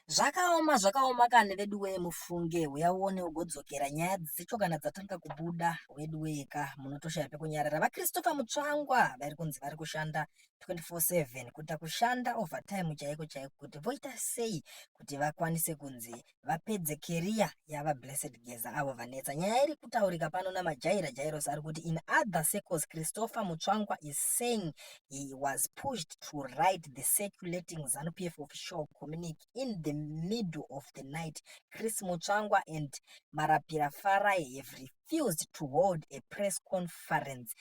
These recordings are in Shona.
Zvakaoma zvakaoma kani veduwee mufunge huya uone ugodzokera nyaya dzicho kana dzatanga kubuda weduwee ka munotoshaya pekunyarara VaChristopher Mutsvangwa vari kunzi vari kushanda 24/7 kuita kushanda overtime chaiko chaiko kuti voita sei kuti vakwanise kunzi vapedze keriya yaVaBlessed Geza avo vanetsa nyaya iri kutaurika pano naMajaira Jairos ari kuti in other circles Christopher Mutsvangwa is saying he was pushed to write the circulating ZANU-PF official communique in the middle of the night. Chris Mutsvangwa and Marapira Farai have refused to hold a press conference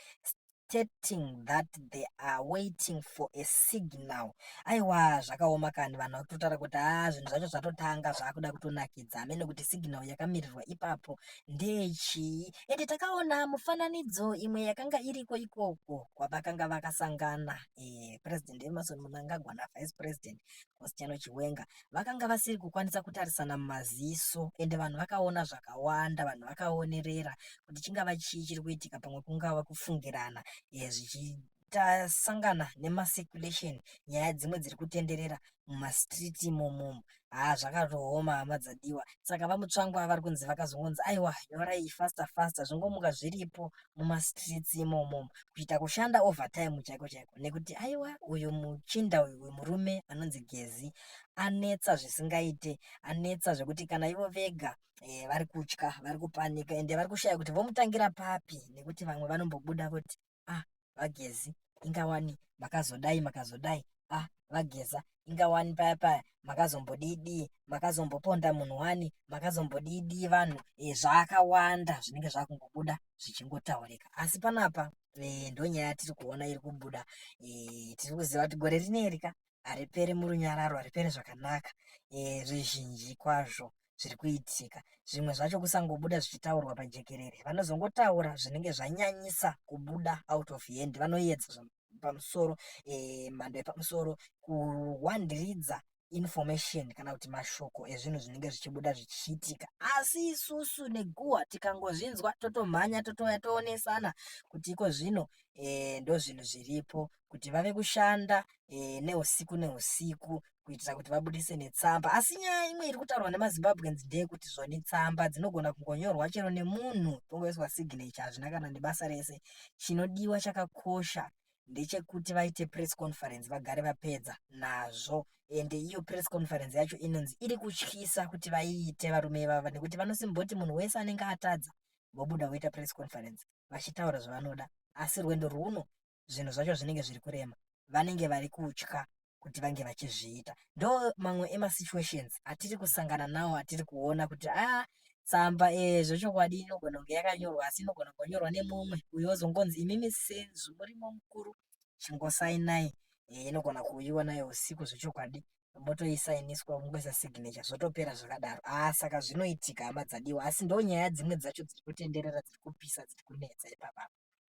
stating that they are waiting for a signal. Aiwa zvakaoma kani vanhu vakutotara kuti haa ah, zvinhu zvacho zvatotanga zvakuda kutonakidza amene kuti signal yakamirirwa ipapo Ndechii? Ende takaona mufananidzo imwe yakanga iriko ikoko kwavakanga vakasangana eh, President Emerson Mnangagwa na Vice President Constantino Chiwenga vakanga vasiri kukwanisa kutarisana mumaziso ende vanhu vakaona zvakawanda, vanhu vakaonerera kuti chingava chii chiri kuitika, pamwe kungava kufungirana eh, zvichi tasangana nemacirculation nyaya dzimwe dziri kutenderera mumastreet imomo haa zvakatooma hama dzadiwa saka vamutsvangu ava vari kunzi vakazongonzi aiwa nyorai faster faster zvingomuka zviripo mumastreets imomo kuita kushanda overtime chaiko chaiko nekuti aiwa uyu muchinda uyu uyu murume anonzi gezi anetsa zvisingaite anetsa zvekuti kana ivo vega e, vari kutya vari kupanika ende vari kushaya kuti vomutangira papi nekuti vamwe vanombobuda voti ah vagezi inga wani makazodai makazodai ah vageza inga wani paya paya makazombodidii makazomboponda munhu wani makazombodidii vanhu e, zvakawanda zvinenge zvakungobuda zvichingotaurika asi panapa e, ndonyaya tiri kuona iri kubuda e, tiri kuziva kuti gore rineri ka haripere murunyararo haripere zvakanaka eh, zvizhinji kwazvo zviri kuitika zvimwe zvacho kusangobuda zvichitaurwa pajekerere vanozongotaura zvinenge zvanyanyisa kubuda out of hand vanoyedza pamusoro eh, mhando yepamusoro kuwandiridza information kana kuti mashoko ezvinhu zvinenge zvichibuda zvichiitika asi isusu neguwa tikangozvinzwa totomhanya totouya toonesana kuti iko zvino e, ndozvinhu zviripo kuti vave kushanda e, neusiku neusiku kuitira kuti vabudise netsamba asi nyaya imwe iri kutaurwa nemazimbabweans ndeyekuti zvoni tsamba dzinogona kungonyorwa chero nemunhu tongoiswa signature hazvina kana nebasa rese chinodiwa chakakosha ndechekuti vaite press conference vagare vapedza nazvo ende iyo press conference yacho inonzi iri kutyisa kuti vaiite varume ivava nekuti vanosimboti munhu wese anenge atadza vobuda voita press conference vachitaura zvavanoda asi rwendo rwuno zvinhu zvacho zvinenge zviri kurema vanenge vari kutya kuti vange vachizviita ndo mamwe emasituations atiri kusangana nawo atiri kuona kuti a ah, tsamba eh, zvechokwadi inogona kunge yakanyorwa asi inogona kunyorwa nemumwe uyo ozongonzi imimi senzu murimo mukuru chingosainai eh, inogona kuuyiwa nayo usiku zvechokwadi motoisainiswa kungoisa signature zvotopera zvakadaro a ah, saka zvinoitika hama dzadiwa asi ndo nyaya dzimwe dzacho dziri kutenderera dziri kupisa dziri kunetsa ipapapa